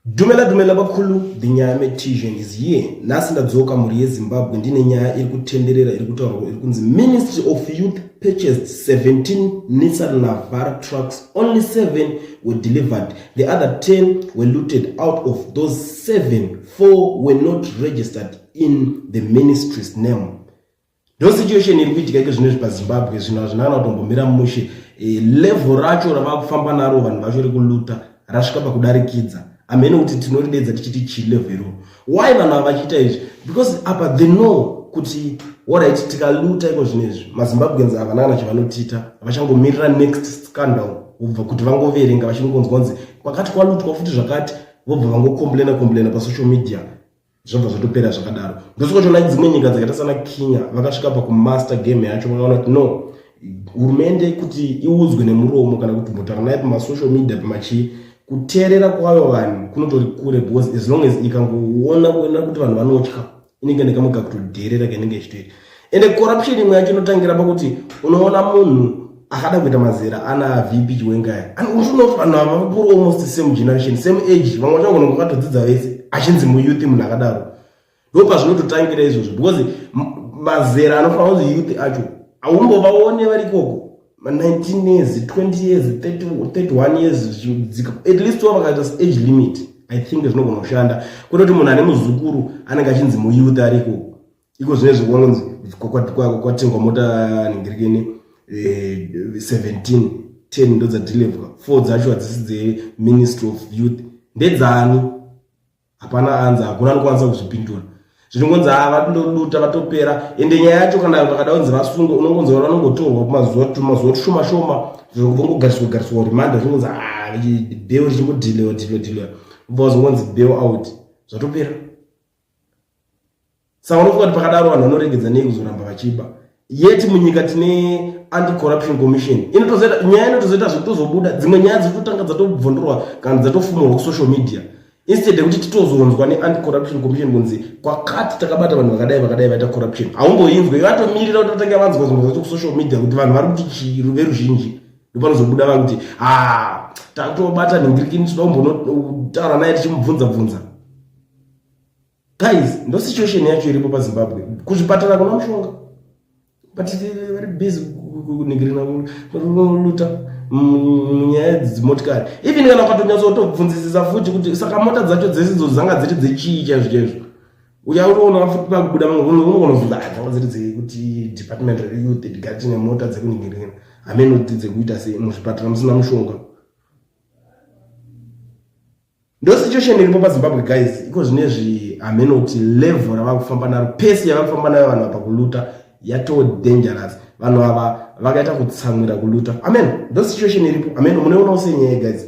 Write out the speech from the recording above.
Dumela dumela bakhulu the nyaya metision is here nhasi ndadzoka mhuri yezimbabwe ndine nyaya iri kutenderera iri kutaurwa iri kunzi ministry of youth purchased 17 nissan navar trucks only 7 were delivered the other 10 were looted out of those 7 4 were not registered in the ministry's name Ndo situation iri kuitika iko zvino zvipa Zimbabwe zvino hazvina kana kutombomira mushe e, level racho ravakufamba naro vanhu vacho rekuluta rasvika pakudarikidza amene kuti tinoridedza tichiti chi level iro why vanhu ava vachiita izvi because apa the know kuti orit tikaluta iko zvino izvi mazimbabweans havana kana chivanotiita vachangomirira next scandal vobva kuti vangoverenga vachingonzwa kunzi kwakati kwalutwa futi zvakati vobva vangocomplaina complaina pasocial media zvobva zvatopera zvakadaro ndosvika toona dzimwe nyika dzakaita sana kenya vakasvika pakumaster game yacho vakaona kuti no hurumende kuti iudzwe nemuromo kana kuti mbotaura naye pamasocial media pamachii kuteerera kwayo vanhu kunotori kure because as long as ikangoona kuona kuti vanhu vanotya inenge nekamwe kakutodheerera kainenge ichitoita ende corruption imwe yacho inotangira pakuti unoona munhu akada kuita mazera ana vp chiwengaya unotoona vanhu ava vakuru almost same generation same age vamwe vacho vagona vakatodzidza vese achinzi muyouth munhu akadaro ndo pazvinototangira izvozvo because mazera anofanira kunzi youth acho haumbovaone vari ikoko ma19 years 20 years 31 years zvichidzika at least wa vakaita age limit i think zvinogona kushanda kwete kuti munhu ane muzukuru anenge achinzi muyouth ari ikoko iko zvinezvi kunonzi kwatengwa mota nhingirini 17 eh, 10 ndo dzadeliverwa four dzacho hadzisi dzeministry of youth ndedzani hapana anza hakuna anokwanisa kuzvipindura zvinongonzi haa vatindoduta vatopera ende nyaya yacho kana vakada kunzi vasunge unongonzi vana vanongotorwa kumazuva tumazuva tushoma shoma vongogariswa gariswa remanda zvinongonzi haa ah, beo richingodhilewa dhilewa dhilewa ubva wazongonzi beo out zvatopera saka unofunga kuti pakadaro vanhu vanoregedza nei kuzoramba vachiba yet munyika tine anti corruption commission inotozoita nyaya inotozoita zvekutozobuda dzimwe nyaya dzototanga dzatobvondorwa kana dzatofumurwa kusocial media instead yekuti titozonzwa neanti corruption commission kunzi kwakati takabata vanhu vakadai vakadai vaita corruption haumboinzwe vatomirira kuti vatanga vanzwa zvimwe zvacho kusocial media kuti vanhu vari kuti chii veruzhinji ndopanozobuda va kuti ha ah, tatobata nhingirikini tinoda kumbonotaura naye tichimubvunza bvunza guys ndo situation yacho iripo pazimbabwe kuzvipatara kuna mushonga but vari busy kunigirina luta munyaya dzimotikari even kana ukatonyatsa kutobvunzisisa futi kuti saka mota dzacho dzese idzo dzanga dziri dzechii chaizvo chaizvo uya unoona futi pakubuda unogonobvunza ah, dzanga dziri dzekuti department reyouth tigati nemota dzekunigirina hameno kuti dzekuita sei muzvipatara musina mushonga ndo situation iripo pazimbabwe guys iko zvine zvi hameno kuti level ravava kufamba naro pesi yava kufamba nayo vanhu apa kuluta yatoo dangerous vanhu ava vakaita kutsamwira kuluta amen ndo situation iripo amen munoionawo senyaya guys